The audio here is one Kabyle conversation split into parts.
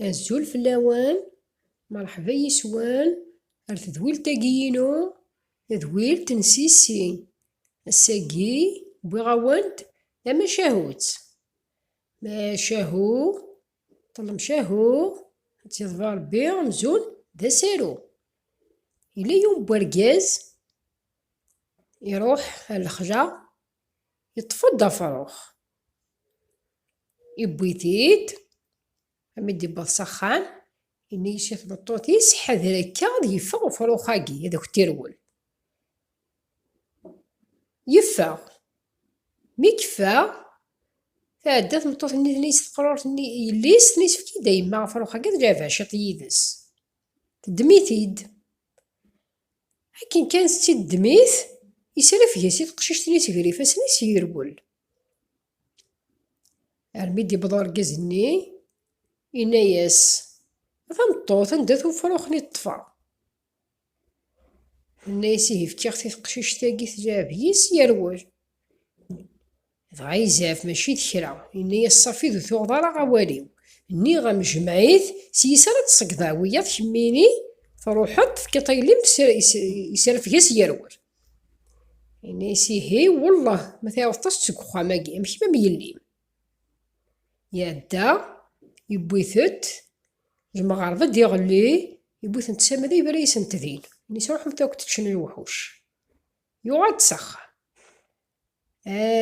Azul fell-awen, merḥba yes-wen ar tedwilt-agi-inu, tadwilt n Sissi. Ass-agi wwiɣ-awen-d tamacahut. Macahu, ṭlemcahu, ad tt-yeḍfer Rebbi amzun d asaru. Yella yiwen n urgaz iruḥ ar lexla Yeṭṭef-d afrux, iwwi-t-id, mi d-iwweḍ s axxam, yenna-as i tmeṭṭut-is, Ḥader akka ad yeffeɣ ufrux-agi, ad ak-t-irwel. Yeffeɣ. Mi yeffeɣ, tɛedda tmeṭṭut-nni tenna-as i teqrurt-nni i yelli-s, tenna-as, Efk-iyi-d a yemma afrux-agi, ad lɛibeɣ ciṭ yid-s. Teddem-it-id. Akken kan tettiddem-it, yesrafeg-as i teqcict-nni seg yifassen-is, yerwel. Armi d-yewweḍ urgaz-nni, yenna-as, A tameṭṭut, anda-t ufrux-nni i ṭṭfeɣ? Yenna-as ihi, Fkiɣ-t i teqcict-agi, tleɛɛeb yis, yerwel. Dɣa izɛef mačči d kra, yenna-yas Safid ur tuɣeḍ ara awal-iw, nniɣ-am jmeɛ-it, s yis ara d-tṣeggdeḍ wiyaḍ kemmini truḥeḍ tefkiḍ tagellimt yesrefg-as yerwel. Yenna-yas ihi wellah ma tɛiwdeḍ-as-d seg uxxam-agi am kemm am yelli-m. Iɛedda, yewwi-tent, lmeɣreb ad d-iɣelli, yewwi-tent s amada yebra-yasent din, yenna-yas ruḥemt akk teččen lewḥuc. Yuɣal-d s axxam.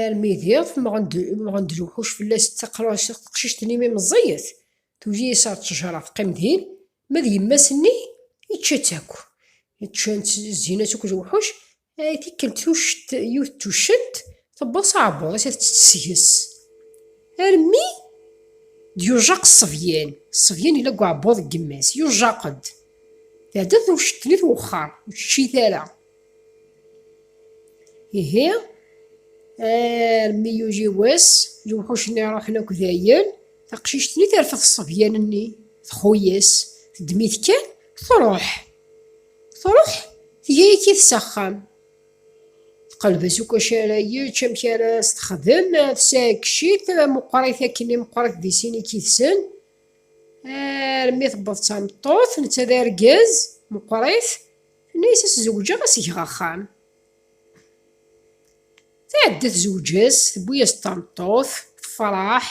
armi diɣ temɣen-d lewḥuc fell-as d taqcict-nni mi meẓẓiyet, tugi-as ar ttejra teqqim din, ma d yemma-s-nni yečča-tt akk. Ččan-tt zzin-as akk lewḥuc, ay tikkelt tucct yiwet tuccent tewweḍ s aɛebbuḍ-is ad tt-tesges, armi d-yujjaq ṣṣebyan, ṣṣebyan yella deg uɛebbuḍ n yemma-s, yujjaq-d, tɛedda tewcct-nni twexxer, ur teččit ara. Ihi, armi yugi wass, lewḥuc-nni ruḥen akk dayen, taqcict-nni terfed ṣṣebyan-nni, txuyes, teddem-it kan, truḥ. Truḥ, tga-yak-it s axxam. Tqelbes akk acu ara yečč, amek ara s-texdem, tesɛeggec-it, meqqerit akken i meqqerit di sin i k-idsen. Armi tewweḍ d tameṭṭut, netta d argaz, meqqerit. Tenna-yas ad s-zewǧeɣ ad s-geɣ axxam. Tɛedda tezweǧ-as, tewwi-yas-d tameṭṭut, tefreḥ.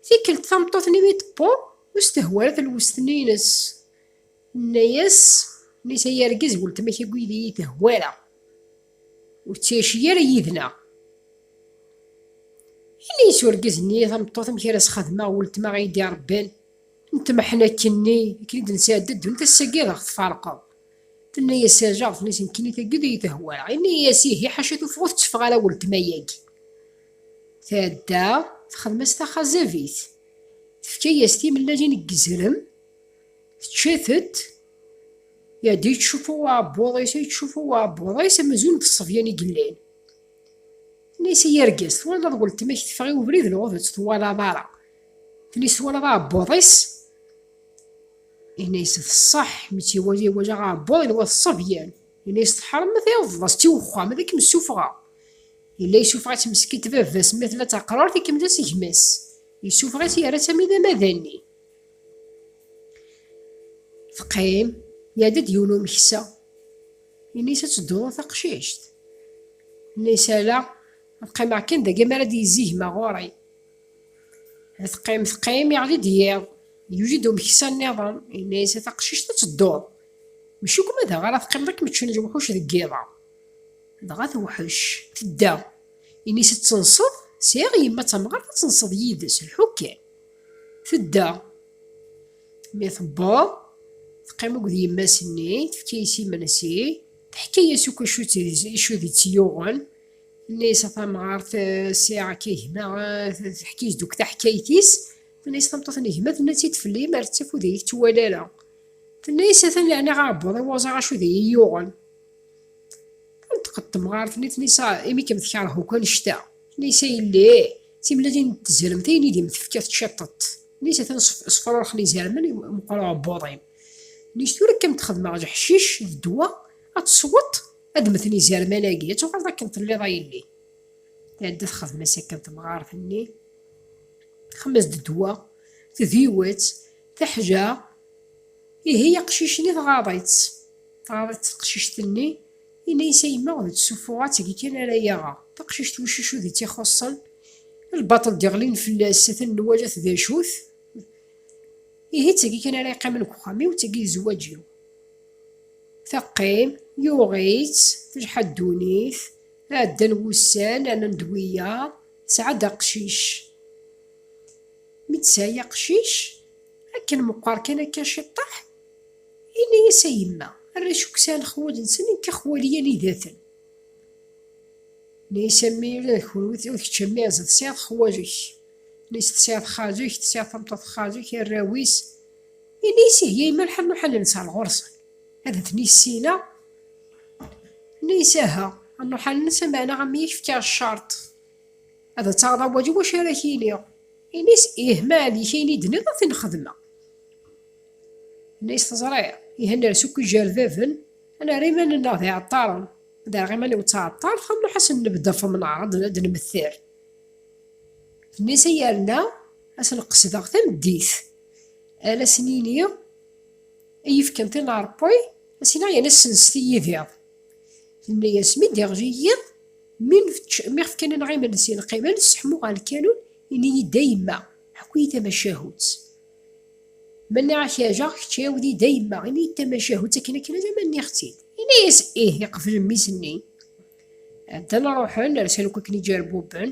Tikkelt tameṭṭut-nni mi d-tewweḍ, ur s-tehwi ara talwest-nni-ines. Tenna-yas, tenna-yas ay argaz weltma-k akk yid-i iyi-tehwa ara. Ur ttɛici ara yid-neɣ. Yenna-yas urgaz-nni i tameṭṭut amek ara s-xedmeɣ weltma i yi-d-irebban. n tmeḥnakk-nni akken i d-nesɛi dda ddunit ass-agi ad aɣ-tfarqeḍ. Tenna-yas tajaɣeḍt nni nekkini tagi d iyi tehwalaɣ. Yenna-yas ihi ḥaca tuffɣa ur tetteffeɣ ara weltma-yagi. Tɛedda texdem-as taxazabit. Tefka-yas timellalin n yizrem, tečča-tent, iɛedda yettcuffu uɛebbuḍ-is, yettcuffu uɛebbuḍ-is amzun d ṣṣebyan i yellan. Tenna-yas ay argaz twalaḍ weltma-k teffeɣ i ubrid neɣ ur tt-twalaḍ ara. Tili twalaḍ aɛebbuḍ-is Yenna-yas teṣṣeḥ mi tt-iwali wala aɛebbuḍ yenwa d ṣṣebyan Yenna-yas teḥṛem ma tɛiwḍeḍ-as-tt i wexxam ad kem-ssufɣeɣ Yella yessufeɣ-itt meskin d baba-s ma tella d taqrart ikemmel-as gma-s Yessufeɣ-itt yerra-tt am idama d anni Teqqim Iɛedda-d yiwen umeksa Yenna-yas ad tedduḍ a taqcict Yenna-yas ala ad qqimeɣ kan dagi mi ara d-yezzi gma ɣur-i Teqqim, teqqim, iɣli-d yiḍ. Yuli-d umeksa nniḍen, yenna-yas, A taqcict, ad tedduḍ! Mačči akk ma da ara teqqimeḍ ad kem-ččen lewḥuc deg yiḍ-a. Dɣa tewḥec, tedda. Yenna-yas, Ad tenseḍ? Sɛiɣ yemma d tamɣart ad tenseḍ yid-s, lḥu kan. Tedda. Mi tewweḍ, teqqim akked yemma-s-nni, tefka-yas imensi, teḥka-yas akk acu i tt-yuɣen. Tenna-yas a tamɣart, sɛiɣ akka gma, teḥkis-d akk taḥkayt-is. Tenna-yas tameṭṭut n gma, tenna-tt-id fell-i, mer d tafud ur iyi-tettwali ara. Tenna-yas atan yeɛni ɣer webbuḍ i waẓar acu d iyi-yuɣen. Tenṭeq-d temɣart-nni, tenna-yas imi kem-tekṛeh akk annect-a. Tenna-yas a yelli, d timellalin n tzermt ayen i d-im-tefka teččiṭ-t. Tenna-yas atan sefṛuṛxen izermen, meqqer uɛebbuḍ-im. Tenna-yas tura kan d-xedmeɣ leḥcic d ddwa, ad tesweḍ Ad mmten izerman-agi, ad tuɣaleḍ akken telliḍ a yelli. Tɛedda txedm-as akken temɣart-nni, txemmes-d ddwa, tdiwet, teḥja, ihi aqcic-nni tɣaḍ-itt. Tɣaḍ-itt teqcict-nni, yenna-yas a yemma ur d-ssuffuɣ ad tgi kan ara yaɣeɣ. Taqcict wiccucu di tt-ixuṣṣen, lbaṭel d-iɣlin fell-as, atan nwalat d acu-t. Ihi d tagi kan ara yeqqimen deg uxxam-iw, d tagi i d zzwaǧ-iw. Teqqim, yuɣ-itt, telḥa ddunit, ɛeddan wussan, rnan-d wiyaḍ, tesɛa-d aqcic. Mi d-tesɛi aqcic, akken meqqer kan akka ciṭṭaḥ, yenna-yas a yemma, arrac akk sɛan lexwal-nsen, nekk axwal-iy anidaten. Yenna-yas a mmi ula d kenwi, ula d kečč a mmi Ɛezza tesɛiḍ xwal-ik. Yenna-yas tesɛiḍ xali-k, tesɛiḍ tameṭṭut n xali-k, arraw-is. Ini isih ya imal ḥannu ḥallen sɛal ɣursen. Ad ten issina. Ini isaha. Annu ḥallen sa meɛna am yak fka cart. Ad taɣeḍ awal i wacu ara k-iniɣ. Ini-s ih ma ɛli-k ayen i d-nniḍ ad t-nxedmeɣ. Ini-s teẓriḍ. Ih ad ners akk ijerdaden. Ad nerr iman-nneɣ d iɛeṭṭaren. Ad rreɣ iman-iw d taɛeṭṭart xannu ḥasen nebdefem neɛreḍ ad d-nemter. Ini-s ay yerna ad sen-qesdeɣ tameddit. Ad asen-yini, I yefkan tin n Ṛebbi, ad s-yini, Ayen a ssenset i yidiḍ. Tenna-yas, Mi d-iɣli yiḍ, mi ɣ-fkan-aneɣ imensi, ad neqqim, ad nesseḥmu ɣer lkanun, ini-yi-d a yemma, ḥku-yi-d tamacahut. Ma nniɣ-ak yajeɣ, kečč iɛiwed-iyi-d a yemma, ini-yi-d tamacahut akken akken alamma nniɣ-tt-id. Yenna-yas, Ih, iqbel mmi-s-nni. Ddan ṛuḥen, rsen akk akken i ǧerbubben,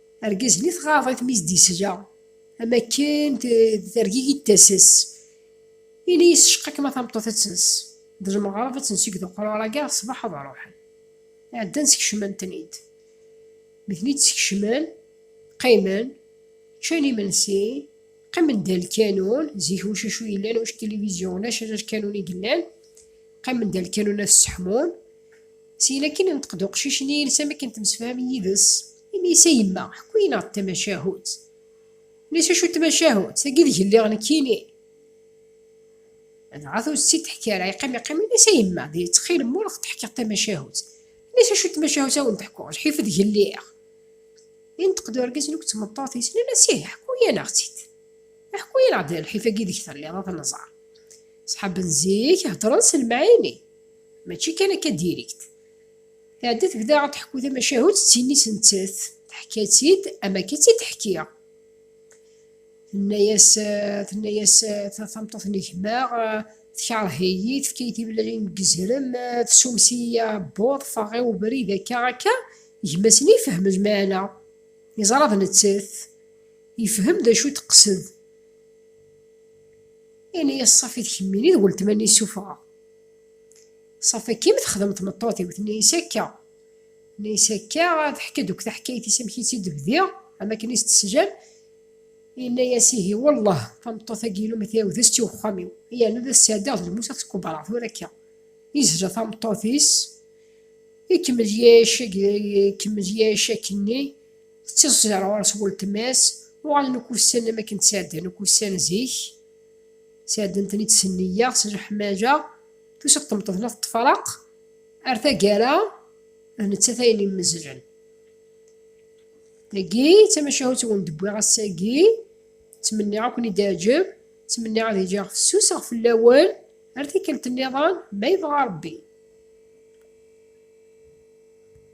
Argaz-nni tɣaḍ-it mi s-d-yesla, am akken tergigi-d tasa-s. Ini-as tceqqa-kem a tameṭṭut ad tens, d lmeɣreb ad tens i yed uqrur agi ar ṣṣbeḥ ad ruḥen. Ɛeddan skecmen-ten-id. Mi ten-id-skecmen, qqimen, ččan imensi, qqimen da lkanun, zik ulac acu yellan, ulac tilivizyu, ulac ala lkanun i yellan, qqimen da lkanun ad sseḥmun. Syin akkin, inṭeq-d uqcic-nni yelsa mi akken temsefham yid-s. Ini-as a yemma, ḥku-yi-neɣ-d tamacahut. Ini-as acu d tamacahut, tagi deg lliɣ nekkini. Dɣa ur tt-id-teḥki ara, yeqqim yeqqim, ini-as a yemma, di ttxil-m ur ɣ-d-teḥkiḍ tamacahut. Ini-as acu d tamacahut a wen-d-ḥkuɣ, lḥif deg lliɣ. Inṭeq-d urgaz n tmeṭṭut-is, nnan-as ih, ḥku-yi-neɣ-tt-id. Ḥku-yi-neɣ-d lḥif-agi deg telliḍ ad nẓer. Ṣṣḥab n zik heddren s lemɛani, mačči kan akka dirikt. Tɛedda tebda ad teḥku tamacahut d tin-is nettat, teḥka-tt-id am akka i tt-id-teḥkiɣ. Tenna-yas, tenna-yas tameṭṭut n gma, tkeṛh-iyi, tefka-yi timellalin deg yizrem, tessumes-iyi aɛebbuḍ, ffɣeɣ i ubrid akka akka, gma-s nni ifehhem lmeɛna, yeẓra d nettat, yefhem d acu i d-teqsed. Yenna-yas ṣafit kemmini d weltma-nni ssufɣeɣ. Safi akken texdem tmeṭṭut-iw, tenna-as akka, tenna-as akka, teḥka-d akk taḥkayt-is amek i tt-id-bdiɣ, am akken i s-tessejal, yenna-as ihi wellah tameṭṭut-agi-inu ma tɛiwed ad s-tt-iw uxxam-iw, yerna ad as-tt-ɛeddiɣ d lmus ad t-kubreɣ tura akka. Yezla tameṭṭut-is, ikemmel yɛic ikemmel yɛic akkenni, tettiẓẓiẓer ɣur-s weltma-s, uɣalen akk ussanen am akken ttɛeddan akk ussan zik, Sɛeddent-ten-id s nniya, s leḥmaǧa, tusa-d tmeṭṭut la teṭṭefraq ar taggara, d nettat ay immezzlen. Tagi d tamacahut wen d-wwiɣ ass-agi, ttmenniɣ ad ken-id-teɛjeb, ttmenniɣ ad ejjeɣ fessuseɣ fell-awen ar tikkelt niḍen ma yebɣa Rebbi.